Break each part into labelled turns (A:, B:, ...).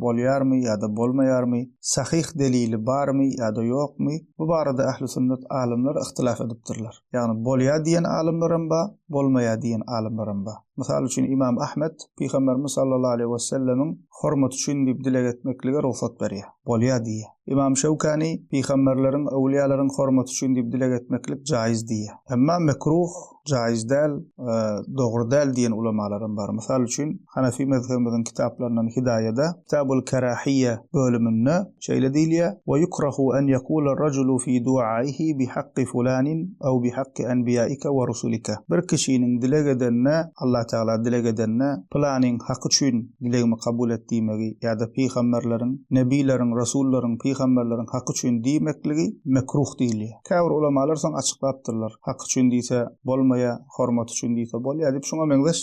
A: bolýarmy ýa-da bolmaýarmy, sahyh delili barmy ýa-da ýokmy, bu barada ähli sünnet alymlary yhtylaf edipdirler. Ýagny bolýar diýen alymlaram bar, bolmaýar diýen alymlaram bar. Mysal üçin Ymam Ahmet Pygamberimiz sallallahu aleýhi wesellemiň hormaty üçin diýip dileg etmeklige rugsat berýär. Bolýar diýýär. Ymam Şewkani Pygamberleriň, öwlýalaryň hormaty üçin diýip dileg etmeklik jaýyz diýýär. Emma mekruh jaýyz däl, dogry däl diýen ulamalaram bar. Mysal üçin, Hanefi mezhebimiziň kitaplaryndan Hidaýada, Kitabul Kerahiýýe bölüminde şeýle diýilýär, Ve yukrahu en yekule raculu fi duaihi bi hakki fulanin ew bi hakki enbiyaike ve rusulike. Bir kişiniň dileg edende, Allah Tagala dileg edende, Pylanyň haky üçin dilegimi kabul et diýmegi ýa-da pygamberleriň, nebyleriň, resullaryň, pygamberleriň haky üçin diýmekligi mekruh diýilýär. Käbir ulamalar soň açyklapdyrlar, Hak üçin diýse, bolmaýa, hormat üçin diýse, bolýa diýip, şuňa meňzeş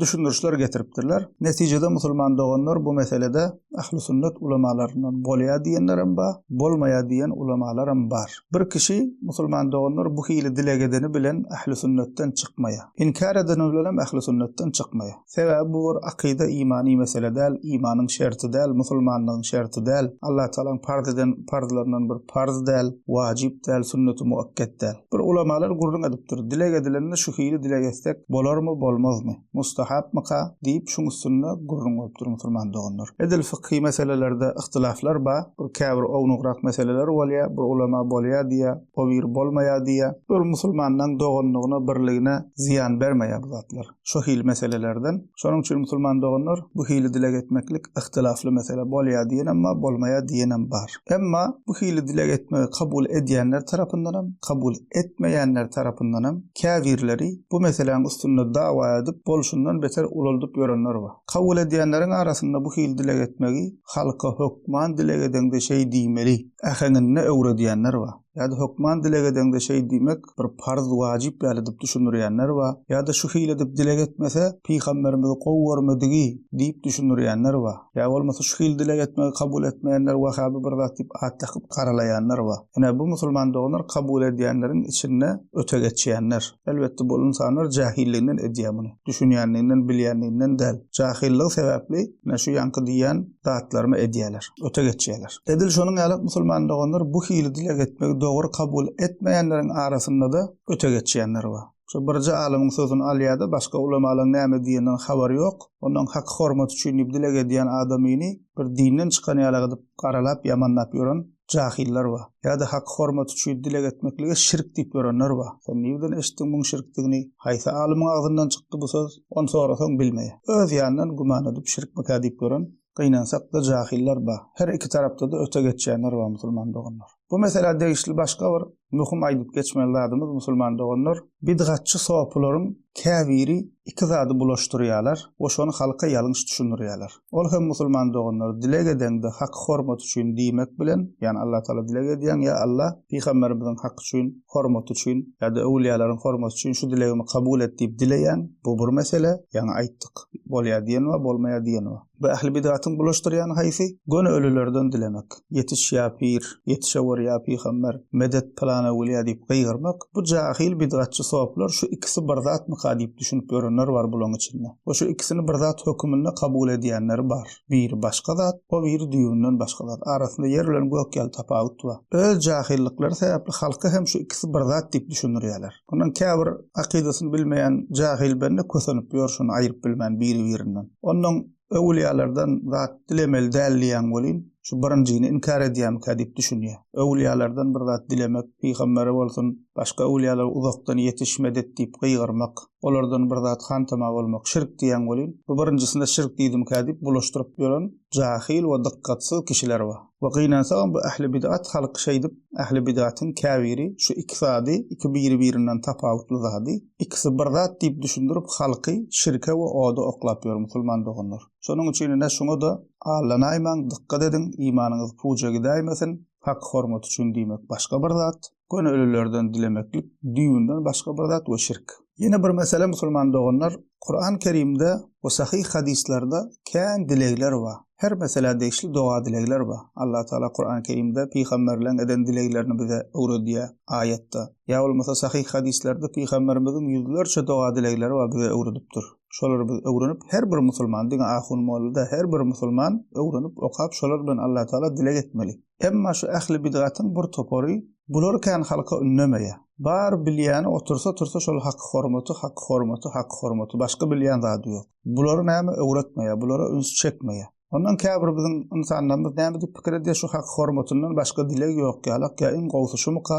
A: düşündirişler getiripdirler. Netijede musulman doganlar bu meselede Ähli sünnet ulamalaryndan bolýa diýenlerem bar, bolmaýa diýen ulamalaram bar. Bir kişi, musulman doganlar bu hili dileg edeni bilen Ähli sünnetden çykmaýa. Inkär edeni bilenem Ähli sünnetden çykmaýa. Sebäbi bu bir akyda imany mesele däl, imanyň şerti däl, musulmanlygyň şerti däl, Allatagalaň parz eden parzlaryndan bir parz däl, wajyp däl, sünneti muakket däl. Bir ulamalar gürrüň edipdir, dileg edilende şu hili dileg etsek bolarmy, bolmazmy, mustahapmyka? diýip şuň üstünde gürrüň bolupdyr musulman doganlar. Edil fykhy meselelerde yhtylaflar ba, bir käbir ownugrak meseleler bolýa, bir ulama bolýa diýä, o biri bolmaýa diýä. Bul musulmanlaň doganlygyna, birligine zyýan bermeýä bu zatlar. şu hili meselelerden. Şonuň üçin musulman doganlar bu hili dileg etmeklik yhtylafly mesele. Bolýar diýenem bar, bolmaýar diýenem bar. Emma bu hili dileg etmegi kabul edýänler tarapyndanam, kabul etmeýänler tarapyndanam käbirleri bu meseläň üstünde dawa edip, bolşundan beter ulaldyp ýörenler bar. Kabul edýänleriň arasynda bu hili dileg etmegi halka hökman dileg edeňde şeý diýmeli äheňinde öwredýänler bar. Ýa-da hökman dileg edeňde şeý diýmek bir parz, wajyp ýaly edip düşündirýänler bar. Ýa-da şu hili edip dileg etmese, pygamberimizi gowy görmedigi diýip düşündirýänler bar. Ýa bolmasa şu hili dileg etmegi kabul etmeýänler wahhaby bir zat diýip at dakyp garalaýanlar bar. Ine, bu musulman doganlar kabul edýänleriň içinde öte geçýänler. Elbetde bul ynsanlar jähilliginden edýär muny. Düşünýänliginden, bilýänliginden däl. Jahyllygy sebäpli, ine şu ýaňky diýýän zatlarymy edýärler, öte geçýärler. Edil şonuň ýaly musulman doganlar bu hili dileg etmegi dogry kabul etmeýänleriň arasynda-da öte geçýänler bar. Şu birje alymyň sözüni alýar-da, başga ulamalaryň näme diýeninden habary ýok. Ondan haky-hormaty üçin diýip dileg edýän adamyny bir dinden çykan ýaly gydyp garalap, ýamanlap ýören jahyllar bar. Ýa-da Hak hormat üçin dileg etmeklige şirk diýip ýörenler bar. Sen nirden eşitdiň muň şirkdigini? Haýsy alymyň agzyndan çykdy bu söz? Ony sorasaň bilmeýä. Öz ýanyndan güman edip şirkmikä diýip ýören, gynansakda jahyllar bar. Her iki tarapda-da öte geçýänler bar musulman doganlar. Bu meselä degişli başga bir Möhüm aýdyp geçmeli zadymyz musulman doganlar, bidgatçy sopularyň käbiri iki zady bulaşdyrýarlar we şony halka ýalňyş düşündirýärler. Ol hem musulman doganlar dileg edeňde hak hormat üçin diýmek bilen, ýagny Allah Taala dileg edýäň ýa Allah pygamberimiziň hak üçin, hormat üçin ýa-da öwülýalaryň hormaty üçin şu dilegimi kabul et diýip dileýäň, bu bir mesele, ýaňy aýtdyk, bolýar diýen we bolmaýar diýen we. Bu ähli bidatyň bulaşdyrýany haýsy? Göni ölülerden dilemek, Ýetiş, ýa pir! Ýetişewür, ýa pygamber! Medet pylanawgelýä diýip gygyrmak. Bu jahyl bidgatçy soplar şu ikisi bir zatmyka diýip düşünip ýörenler bar bulaň içinde. We şu ikisini bir zat höküminde kabul edýänleri bar. Biri başga zat, o biri düýbünden başga zat. Arasynda ýer bilen gök ýaly tapawut bar. Öz jahyllyklary sebäpli halka hem şu ikisi bir zat diýip düşündirýärler. Onuň käbir akydasyny bilmeýän jahil bende kösenip ýör şuny aýyryp bilmän biri-birinden. Onnoň öwülýalardan zat dilemeli däl diýýäň welin, şu birinjini inkär edýämikä diýip düşünýär. Öwülýalardan bir zat dilemek, pygambere bolsun, başga öwülýalara uzakdan ýetiş, medet diýip gygyrymak, olardan bir zat hantama bolmak şirk diýýäň welin, bu birinjisine şirk diýdimikä diýip bulaşdyryp ýören jahil we dykgatsyz kişiler bar. we gynansagam bu ähli bidat halk şeýdip ähli bidatyň käbiri şu iki zady iki biri birinden tapawutly zady ikisi bir zat diýip düşündirip halky şirke we oda oklap ýör musulman doganlar şonuň üçin ine şuňada allanaýmaň dykgat ediň imanyňyz puja gidäýmesin hak hormaty üçin diýmek başga bir zat. göni ölülerden dilemeklik düýbünden başga bir zat we şirk. Ýene bir mesele musulman doganlar, Kuran Kerimde we sahyh hadyslarda kän dilegler bar. Her meselä degişli doga dilegler bar. Allah Taala Kuran Kerimde pygamberleň eden dileglerini bize öwredýär, aýatda, ýa bolmasa sahyh hadyslarda pygamberimiziň ýüzlerçe doga dilegleri bar bize öwredipdir. Şolary biz öwrenip her bir musulman diňe ahun molla da her bir musulman öwrenip okap şolar bilen Allah Taala dileg etmeli. Emma şu ähli bidgatyň bir topary bular kän halka ünnemeýär. Bar bilýäni otursa-tursa şol haky hormaty, haky hormaty, haky hormaty, başga bilýän zady ýok. Bulary näme öwretmeýär, bulara üns çekmeýär. Ondan käbir biziň ynsanlarymyz näme diýip pikir edýär, şu haky hormatyndan başga dileg ýok ýalak, ýa iň gowusy şumyka,